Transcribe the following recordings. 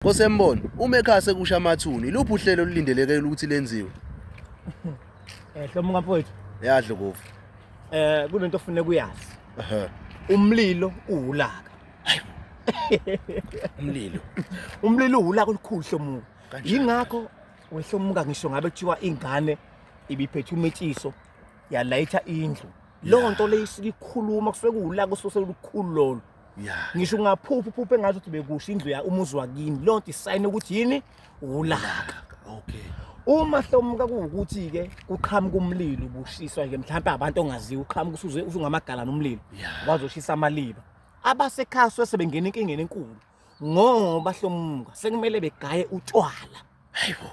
Kosembono, uma ekhaya sekusha amathuna, iluphi uhlelo olulindeleke ukuthi lenziwe? Eh hlomo ngamfowethu. Yadlo kofu. Eh kunento ofuneka uyazi. Ehhe. Umlilo uwulaka. Umlilo. Umlilo uwulaka olukhulu hlomuka. Kanjani? Yingakho wehlomuka ngisho ngabe kuthiwa ingane ibiphethe umetshiso yalayitha indlu. Leyo nto leyo isuke ikhuluma kusuke kuwulaka osuse lukhulu lolo. Yeah. Ngisho ungaphupha uphuphe engathi uthi bekusho indlu ya umuzi wakini. Leyo nto isayini ukuthi yini? Ulaka. Okay. Uma hlomuka kuwukuthi ke kuqhamuka umlilo ubushiswa nje mhlawumbe abantu ongaziwa uqhamuka usuze usungamagala nomlilo. Yeah. Wazoshisa amaliba. Abasekhaya sebengena inkingeni enkulu ngoba hlomuka sekumele begaye utshwala. Hayibo.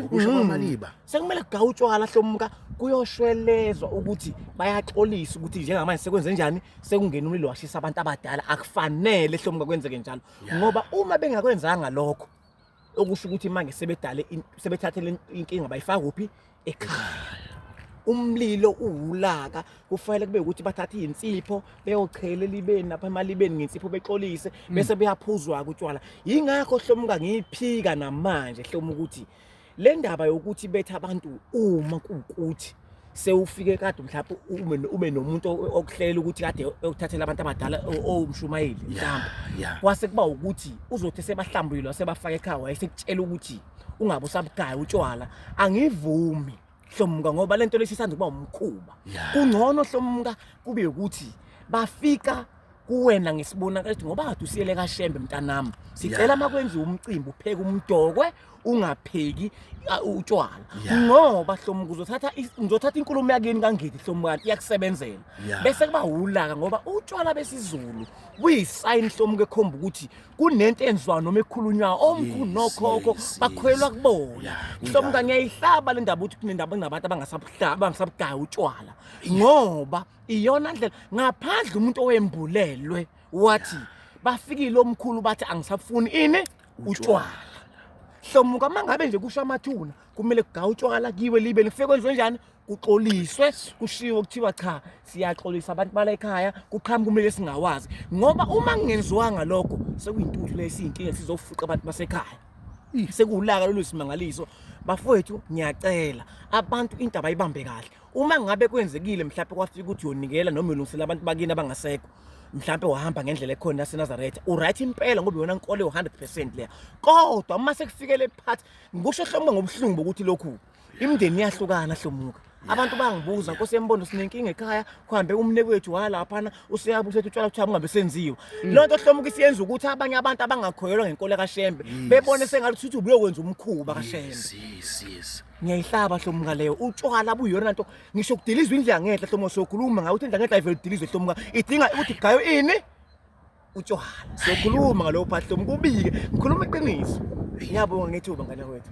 Ukusho kwamaliba. Sekumele kugawutshwala hlomka kuyoshwelezwa ukuthi bayaxolisa ukuthi njengamanje sekwenze njani sekungena umlilo washisa abantu abadala akufanele hlomka kwenzeke njalo ngoba uma bengakwenzanga lokho okusho ukuthi manje sebedale sebethathele inkinga bayifaka kuphi ekhaya umlilo uwulaka kufanele kube ukuthi bathathe insipho beyochela elibeni lapha emalibeni ngensipho bexolise mm. bese beyaphuzwa kutshwala yingakho hlomuka ngiyiphika namanje hloma ukuthi le ndaba yokuthi bethe abantu uma kuwukuthi sewufike kade mhlawumbe ube ube nomuntu okuhlela ukuthi kade uthathela abantu abadala owumshumayeli mhlawumbe kwase kuba ukuthi uzothi sebahlambulile wasebafaka ekhaya wayesekutshela ukuthi ungabe usabugaya utshwala angivumi hlomka ngoba lento lesisanda kuba umkhuba kungcono hlomka kube ukuthi bafika kuwena ngesibonakala ukuthi ngoba kade usiyele kashembe mntanami sicela uma kwenziwa umcimbi upheke umdokwe ungapheki utshwala ngoba hlomuka uzothatha ngizothatha inkulumo yakini kangidi hlomukani iyakusebenzela bese kuba wulaka ngoba utshwala besizulu buyisign hlomuka ekhomba ukuthi kunento enziwayo noma ekhulunywayo omkhulu Yes, nokhokho yes, bakholelwa yes. kubona Yeah, mhlawumbe kunjalo. ngiyayihlaba le ndaba ukuthi kunendaba kunabantu abangasabuhlaba abangasabugaya utshwala ngoba iyona ndlela ngaphandle umuntu owembulelwe wathi bafikile omkhulu bathi angisafuni ini utshwala hlomuka uma ngabe nje kusho amathuna kumele kugawa utshwala kiwe libe ngifike kwenziwe njani kuxoliswe kushiwo kuthiwa cha siyaxolisa abantu bala ekhaya kuqhamuka kumele singawazi ngoba uma kungenziwanga lokho sekuyintuthu lesiyinkinga sizofuqa abantu basekhaya sekulaka lolu simangaliso bafowethu ngiyacela abantu into abayibambe kahle uma ngabe kwenzekile mhlawumbe kwafika ukuthi yonikela noma ulungisela abantu bakini abangasekho mhlawumbe wahamba ngendlela ekhona yaseNazaretha uright impela ngoba yona inkolo yo 100% leya kodwa uma sekufikele part ngikusho hlombe ngobuhlungu bokuthi lokhu imndeni iyahlukana hlomuka abantu bangibuza nkosi yembondo sinenkinga ekhaya kuhambe umne kwethu walaphana useyabe usethi utshwala kuthiwa kungabe senziwa mm. loo nto hlomuka isiyenza ukuthi abanye abantu abangakhoyelwa ngenkolo kashembe bebone sengathi uthi ubuyokwenza umkhuba kashembe ngiyayihlaba hlomuka leyo utshwala buyona nto ngisho kudilizwa indlu yangenhla hlomuka sokhuluma ngayo uthi indlu yangenhla ivele udilizwe hlomuka idinga ukuthi gayo ini utshwala sokhuluma ngalowo phathi hlomuka ubike ngikhuluma iqiniso ngiyabonga ngethuba ngane wethu